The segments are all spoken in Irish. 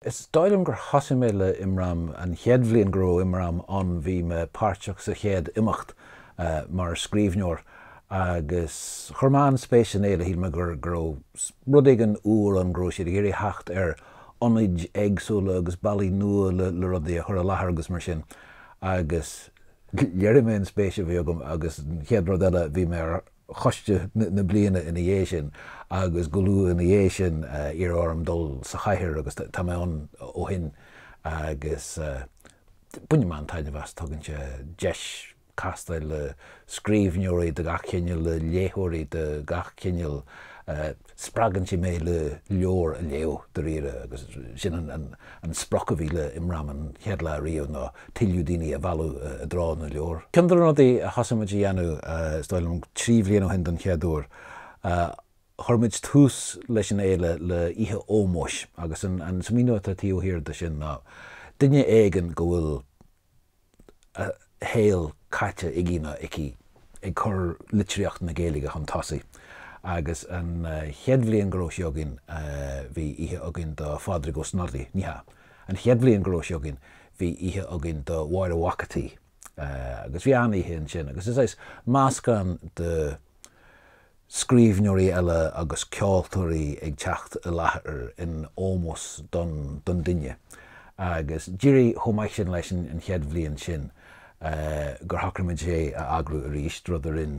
Is dóigh liom gur thosaigh mé le Imram an chéad bhliain go raibh Imram ann, bhí me páirteach sa chéad imeacht mar scríbhneoir agus chuir mé an-spéis san fhéile, shíl mé go raibh rud éigin úr ann, go raibh siad ag iarraidh theacht ar ionaid éagsúla agus bealaí nua le rudaí a chur i láthair agus mar sin agus léirigh mé an spéis a bhí agam agus an chéad rud eile bhí mé ar choiste na bliana ina dhiaidh sin agus go luath ina dhiaidh sin iarradh orm dul sa chathaoir agus tá mé ann ó shin agus bainim an-taitneamh as, tugann sé deis castáil le scríbhneoirí de gach cineál, le léitheoirí de gach cineál. Spreagann sé mé le leabhar a léamh, dáiríre, agus sin an sprioc a bhí le Imram an chéad lá riamh, ná tuilleadh daoine a mhealladh i dtreo na leabhar. Ceann de na rudaí a thosaigh muid a dhéanamh, is dóigh liom, trí bhliain ó shin don chéad uair, chuir muid tús leis an fhéile le oíche ómóis, agus an míniú atá taobh thiar de sin ná, duine éigin go bhfuil, a shaol caite aige nó aici ag cur litríocht na Gaeilge chun tosaigh agus an chéad bhliain go raibh sí againn bhí oíche againn do Phádraig Ó Snodaigh, ní hea, an chéad bhliain go raibh sí againn bhí oíche againn do Mháire Mhac a' tSaoi agus bhí an-oíche ansin agus is saghas meascán de. scríbhneoirí eile agus ceoltóirí ag teacht i láthair in ómós don don duine agus d'éirigh chomh maith sin leis an chéad bhliain sin gur shocraigh muid é a eagrú arís, rud a rinn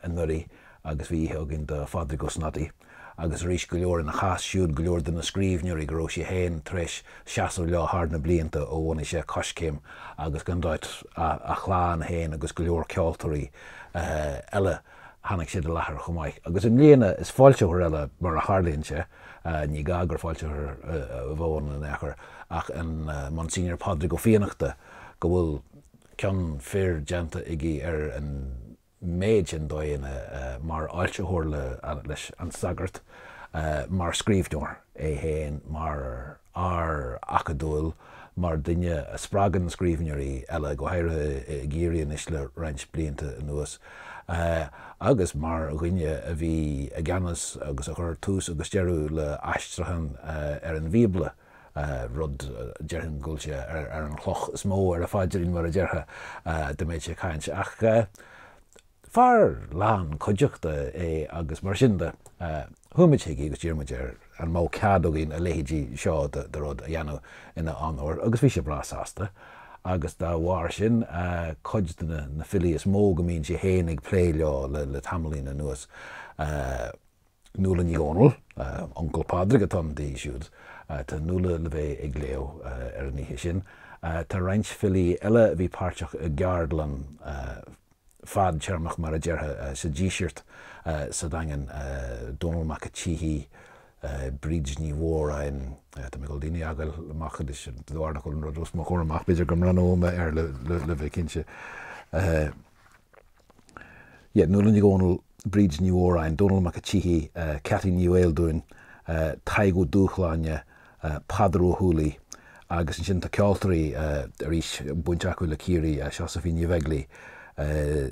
anuraidh agus bhí oíche againn do Phádraig Ó Snodaigh agus arís go leor ina chás siúd, go leor de na scríbhneoirí go raibh sé féin tar éis seasamh leo thar na blianta ó bhunaigh sé Coiscéim agus gan dabht a chlann féin agus go leor ceoltóirí eile. Tháinig siad i láthair chomh maith, agus i mbliana is foilsitheoir eile, mar a tharlaíonn sé, ní gá gur foilsitheoir a bheadh ann in aon chor, ach an Monsignor Pádraig Ó Fiannachta, go bhfuil cion fir déanta aige ar an méid sin dóigheanna, mar fhoilsitheoir leis An Sagart, mar scríbhneoir é féin, mar. fhear acadúil mar dhuine a spreagann scríbhneoirí eile, go háirithe i gCiarraí anois le roinnt blianta anuas, agus mar dhuine a bhí i gceannas agus a chuir tús agus deireadh le aistriúchán ar an Bhíobla, rud, déarfainn, go bhfuil sé ar an chloch is mó ar a phaidrín, mar a déarfá, dá mbeadh sé ag caint. Ach. Fear lán cuideachta é agus mar sin de chuaigh muid chuige agus d'iarr muid air an mbeadh cead againn a leithéidí seo de rud a dhéanamh ina onóir agus bhí sé breá sásta agus dá bharr sin cuid de na de na filí is mó go mbíonn sé féin ag plé leo le tamaillín anuas Nuala Ní Dhomhnaill, Uncail Pádraig atá ann di siúd. Tá Nuala le bheith ag léamh ar an oíche sin. Tá roinnt filí eile a bhí páirteach i gceardlann fadtéarmach mar a déarfá sa Díseart sa Daingean, Dónall Mac a' tSíthigh, Bríd Ní Mhóráin, tá mé ag dul daoine a fhágáil amach anois de bharr nach bhfuil an rud os mo chomhair amach, b'fhéidir go mbreathnóidh mé air le bheith cinnte. Yeah, Nuala Ní Dhomhnaill, Bríd Ní Mhóráin, Dónall Mac a' tSíthigh, Ceaití Ní Bheildiúin, Tadhg Ó Dúshláine, Peadar Ó hUallaigh agus ansin tá ceoltoirí arís baint acu le Ciarraí, Seosaimhín Ní Bheaglaoich,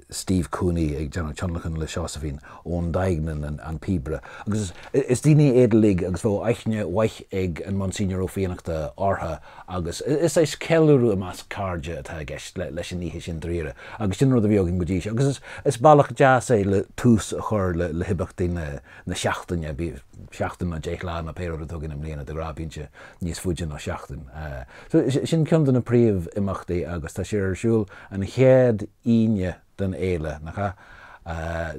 Steve Cooney ag déanamh tionlacan le Seosaimhín, Eoin Duignan an píobaire. Agus is daoine iad uilig agus bheadh aithne mhaith ag an Monsignor Ó Fiannachta ortha. agus is é, is ceiliúradh i measc cairde atá i gceist leis an oíche sin dáiríre, agus sin rud a bhíonn againn go dtí seo, agus is bealach deas é le tús a chur le himeachtaí na seachtaine, bíodh seachtain nó deich lá nó pé rud atá againn i mbliana, de ghnáth bíonn sé níos faide ná seachtain. Sin ceann de na príomhimeachtaí agus tá sé ar siúl an chéad Aoine den fhéile, nach ea?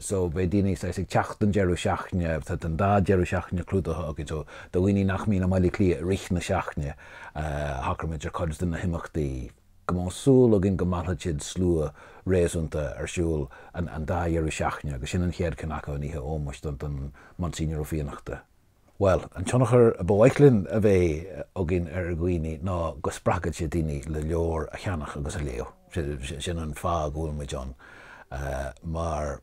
So beidh daoine saghas ag teacht don deireadh seachtaine, tá an dá dheireadh seachtaine clúdaithe againn, so do dhaoine nach mbíonn i mBaile Cliath i rith na seachtaine, shocair muid ar chuid de na himeachtaí go mbeadh súil againn go meallfadh siad slua réasúnta ar siúl an dá dheireadh seachtaine agus sin an chéad cheann acu an oíche ómóis don Monsignor Ó Fiannachta. Bhuel, an tionchar ba mhaith linn a bheith againn ar dhaoine ná go spreagfadh sé daoine le leabhair a cheannach agus a léamh. Sin an fáth go bhfuil muid ann mar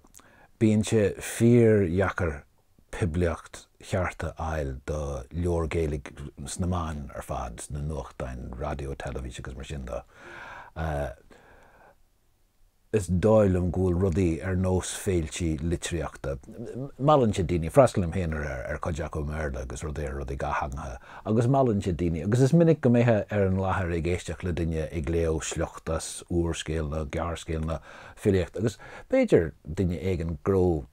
bíonn sé fíor-dheacair poiblíocht cheart a fháil do leabhair Gaeilge sna meáin ar fad, na nuachtáin, raidió, teilifís agus mar sin de. Is dóigh liom go bhfuil rudaí ar nós féiltí litríochta. Meallann sé daoine. Freastalaím féin ar chuid acu i mBéarla agus rudaí ar rudaí dátheangacha. Agus meallann sé daoine. Agus is minic go mbeifeá ar an láthair ag éisteacht le duine ag léamh sliocht as úrscéal nó gearrscéal nó filíocht. Agus b'fhéidir duine éigin go raibh.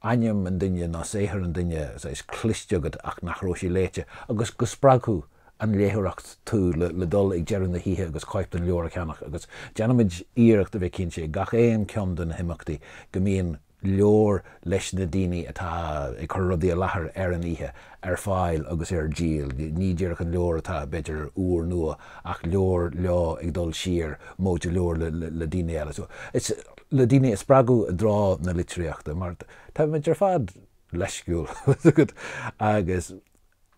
ainm an duine nó saothar an duine saghas cloiste agat ach nach raibh sé léite, agus go spreagfadh an léitheoireacht tú le dul ag deireadh na hoíche agus cóip den leabhar a cheannach, agus déanaimid iarracht a bheith cinnte ag gach aon ceann de na himeachtaí go mbíonn leabhar leis na daoine atá ag cur rudaí i láthair ar an oíche ar fáil agus ar díol, ní díreach an leabhar atá b'fhéidir úr nua ach leabhar leo ag dul siar móide leabhar le daoine eile. le daoine a spreagadh i dtreo na litríochta, mar táimid ar fad leisciúil, agus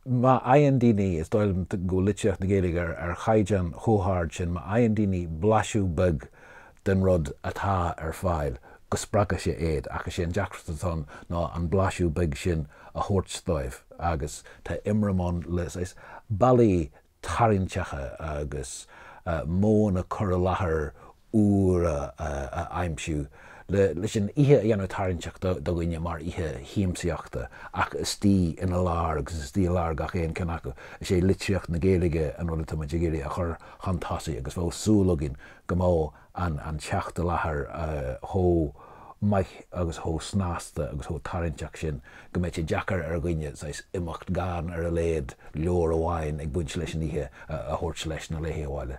má fhaigheann daoine, is dóigh liom go bhfuil litríocht na Gaeilge ar chaighdeán chomh hard sin, má fhaigheann daoine blaisiú beag den rud atá ar fáil, go spreagfadh sé iad, ach is é an deacracht atá ann ná an blaisiú beag sin a thabhairt dóibh, agus tá IMRAM ann le, saghas, bealaí tarraingteacha agus modhanna cur i láthair úra a aimsiú leis an oíche a dhéanamh tarraingteach do dhaoine mar oíche shiamsaíochta ach istigh ina lár agus istigh i lár gach aon ceann acu is é litríocht na Gaeilge an rud atáimid ag iarraidh a chur chun tosaigh agus bheadh súil againn go mbeadh an teacht i láthair chomh maith agus chomh snasta agus chomh tarraingteach sin go mbeidh sé deacair ar dhuine saghas imeacht gan ar a laghad leabhar amháin ag baint leis an oíche a thabhairt leis nó léithi abhaile.